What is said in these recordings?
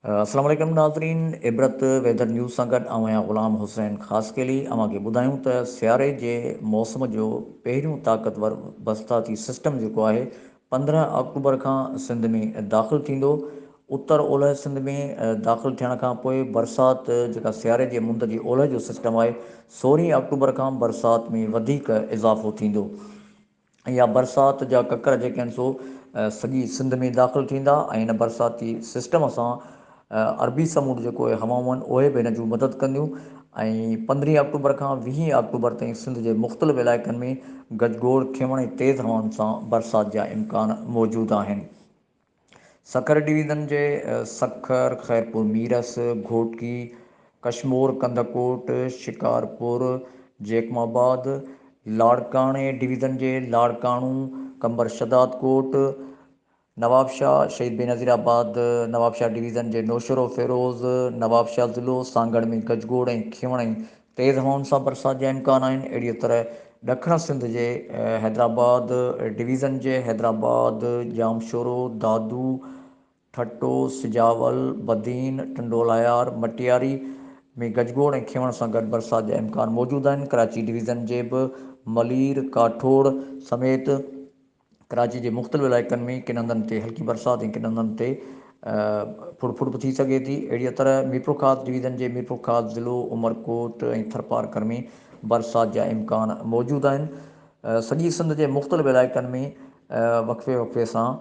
السلام عليڪم ناظرين عبرت ويدر نيوز سان گڏ آئون آهيان غلام حسين خاصخيلي اوهان کي ٻڌايون ته سياري جي موسم جو پهريون طاقتور برساتي سسٽم جيڪو آهي پندرهن آڪٽوبر کان سنڌ ۾ داخل ٿيندو. اتر اولهه سنڌ ۾ داخل ٿيڻ کان پوء برسات جيڪا سياري جي مند جي اولهه جو سسٽم آهي، سورهين آڪٽوبر کان برسات ۾ وڌيڪ اضافو ٿيندو يا برسات جا ڪڪر جيڪي آهن سو سڄي سنڌ ۾ داخل ٿيندا ۽ ان برساتي سسٽم سان عربي سمنڊ جي ڪوهي هوائون آهن اهي به هن جون مدد ڪنديون ۽ پندرهين آڪٽوبر کان ويهين آڪٽوبر تائين سنڌ جي مختلف علائقن ۾ گجگوڙ، کيوڻ ۽ تيز هوائن سان برسات جا امڪان موجود آهن. سکر ڊويزن جي سکر، خيرپور ميرس، گهوٽڪي، ڪشمور، ڪنڌڪوٽ، شڪارپور، جيڪم آباد، لاڙڪاڻي ڊويزن جي لاڙڪاڻو، قمبر شھدادڪوٽ، نوابشاهه، شهيد بينظير آباد، نوابشاهه ڊويزن جي نوشهرو، فيروز، نوابشاهه ضلعو، سانگهڙ ۾ گجگوڙ ۽ کيون ۽ تيز هوائن سان برسات جا امڪان آهن. اهڙيء طرح ڏکڻ سنڌ جي حيدرآباد ڊويزن جي حيدرآباد، ڄامشورو، دادو، ٺٽو، سجاول، بدين، ٽنڊوالهيار، مٽياري ۾ گجگوڙ ۽ کيون سان گڏ برسات جا امڪان موجود آهن. ڪراچي ڊويزن جي به ملير، ڪاٺوڙ سميت. ڪراچي جي مختلف علائقن ۾ ڪن هنڌن تي هلڪي برسات ۽ ڪن هنڌن تي ڦڙ ڦڙ به ٿي سگهي ٿي. اهڙيء طرح ميرپورخاص ڊويزن جي ميرپورخاص ضلعو، عمرڪوٽ ۽ ٿرپارڪر ۾ برسات جا امڪان موجود آهن. سڄي سنڌ جي مختلف علائقن ۾ وقفي وقفي سان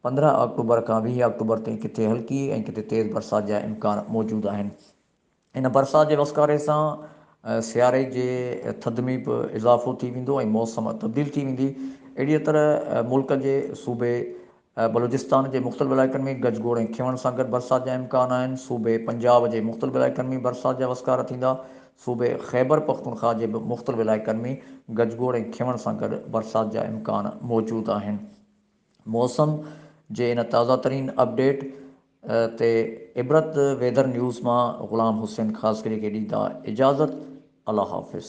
پندرهن آڪٽوبر کان ويهه آڪٽوبر تائين ڪٿي هلڪي ۽ ڪٿي تيز برسات جا امڪان موجود آهن. ان برسات جي وسڪاري سان سياري جي ٿڌ ۾ به اضافو ٿي ويندو ۽ موسم تبديل ٿي ويندي. اهڙيء طرح ملڪ جي صوبي بلوچستان جي مختلف علائقن ۾ گج گوڙ ۽ کيوڻ سان گڏ برسات جا امڪان آهن. صوبي پنجاب جي مختلف علائقن ۾ برسات جا وسڪارا ٿيندا. صوبي خيبر پختونخواهه جي به مختلف علائقن ۾ گج گوڙ ۽ کيوڻ سان گڏ برسات جا امڪان موجود آهن. موسم جي ان تازه ترين اپ ڊيٽ تي عبرت ويدر نيوز مان غلام حسين خاصخيلي کي ڏيندا اجازت الله حافظ.